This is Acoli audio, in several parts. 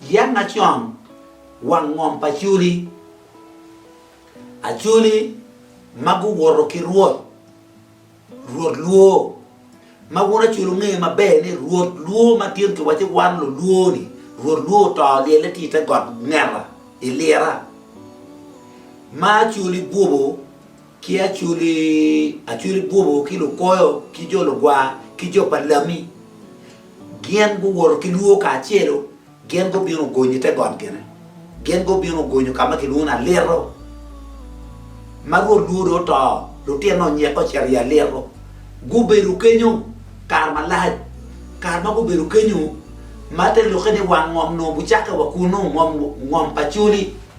Yat macon, wang ngom pa culi. Aculi ma guwoto ki Rwot, Rwot lwo. Ma wun aculi wungeyo maber ni Rwot lwo madit giwaco wan lulwo-ni, Rwot lwo oto olyelle tye i te got ngeta, i lira. Ma aculi bwobo Ki aculi aculi bwobo ki lukoyo ki jo lugwar ki jo pa lami gin guwoto ki lwo kacelo, gin gubino gonyo i te got gene, gin gubino gonyo ka ma kilwongo ni Alito. Ma rwot lwo dong oto, lutinone onyikke ocito i Alito. Gubedo kenyo kare malac, kare ma gubedo kenyo ma te lokke ni wang ngom nongo bucakke wa kunnu, ngom pa aculi.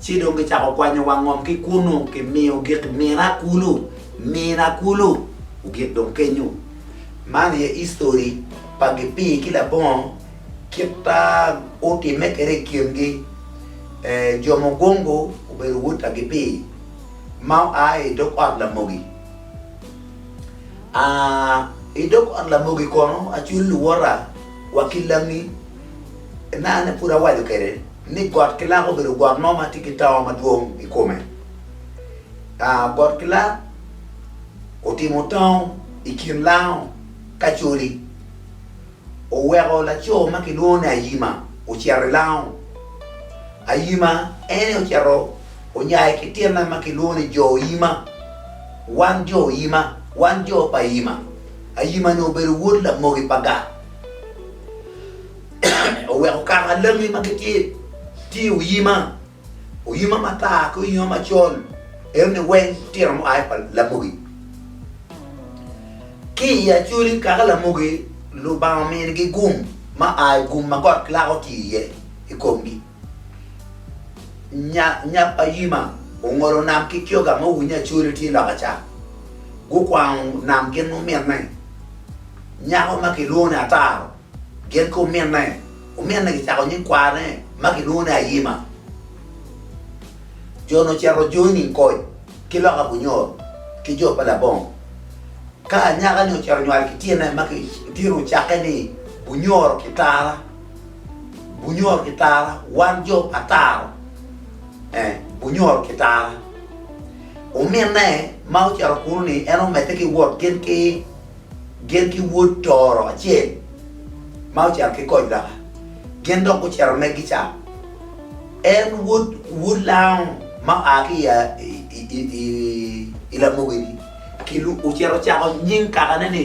Ci dong gicako kwanyo wang ngom ki kunnu, kimiyo gik mina kulu, mina kulu ogik dong kenyu. Man aye history pa Gipii ki Labongo kit ma otimme kwede i kingi. Jo Mugungu obedo wod pa Gipii ma oa i dog ot Lamogi. I dog ot Lamogi kono, Acoli Luwota wa ki Langi Enane pud awaco kwede ni got kilak obedo got mo ma tye ki tawa madwong i kome. Got kilak otimo tong i kin lango ki acholi, oweko laco ma kilwongo ni Ayima ocito i lango. Ayima en aye ocito onyayo ki tyene ma kilwongo ni jo Oyima, wan jo Oyima, wan jo pa Ayima. Ayima-ni obedo wod Lamogi Paga. Oweko kaka lami ma gitye tye i oyima, oyima matar ki oyima macol, enoni weng tira mua i pa Lamogi. Ki i Acholi kaka Lamogi Lubanga ominigi gum ma a i gum ma got ki laka otye iye i komgi. Nya, nya pa Yima ongolo nam ki kioga ma owinyo acode tye loka ca. Gukwango nam gin muminne. Nyako ma kilwongo ni Ataro gin ki ominne, ominne kicako nying kwarne ma kilwongo ni Ayima. Jo-ni ocito jo i ning koc ki loka Bunyoro ki jo pa Labong. Ka anyaka-ni ocito nywal ki tyene ma ki, tyene ocakke ni Bunyoro ki Tara. Bunyoro ki tara, wan jo pa taro, eh, bunyoro ki tara. Ominne ma ocito kuno-ni en omedde ki wot gin ki, gin ki wod toro acel ma ocito ki koc lwaka. Gin dong gucito megi ca. En wod, wod lango ma oa ki i, i, i, i, i Lamogedi, ki, ocito ocako nying kakane ni.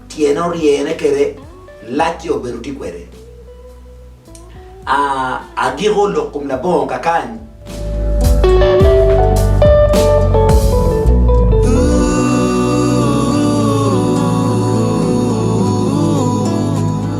Tyene oryene kede lacce obedo tye kwede. A Agiko lok kom labongo kakany.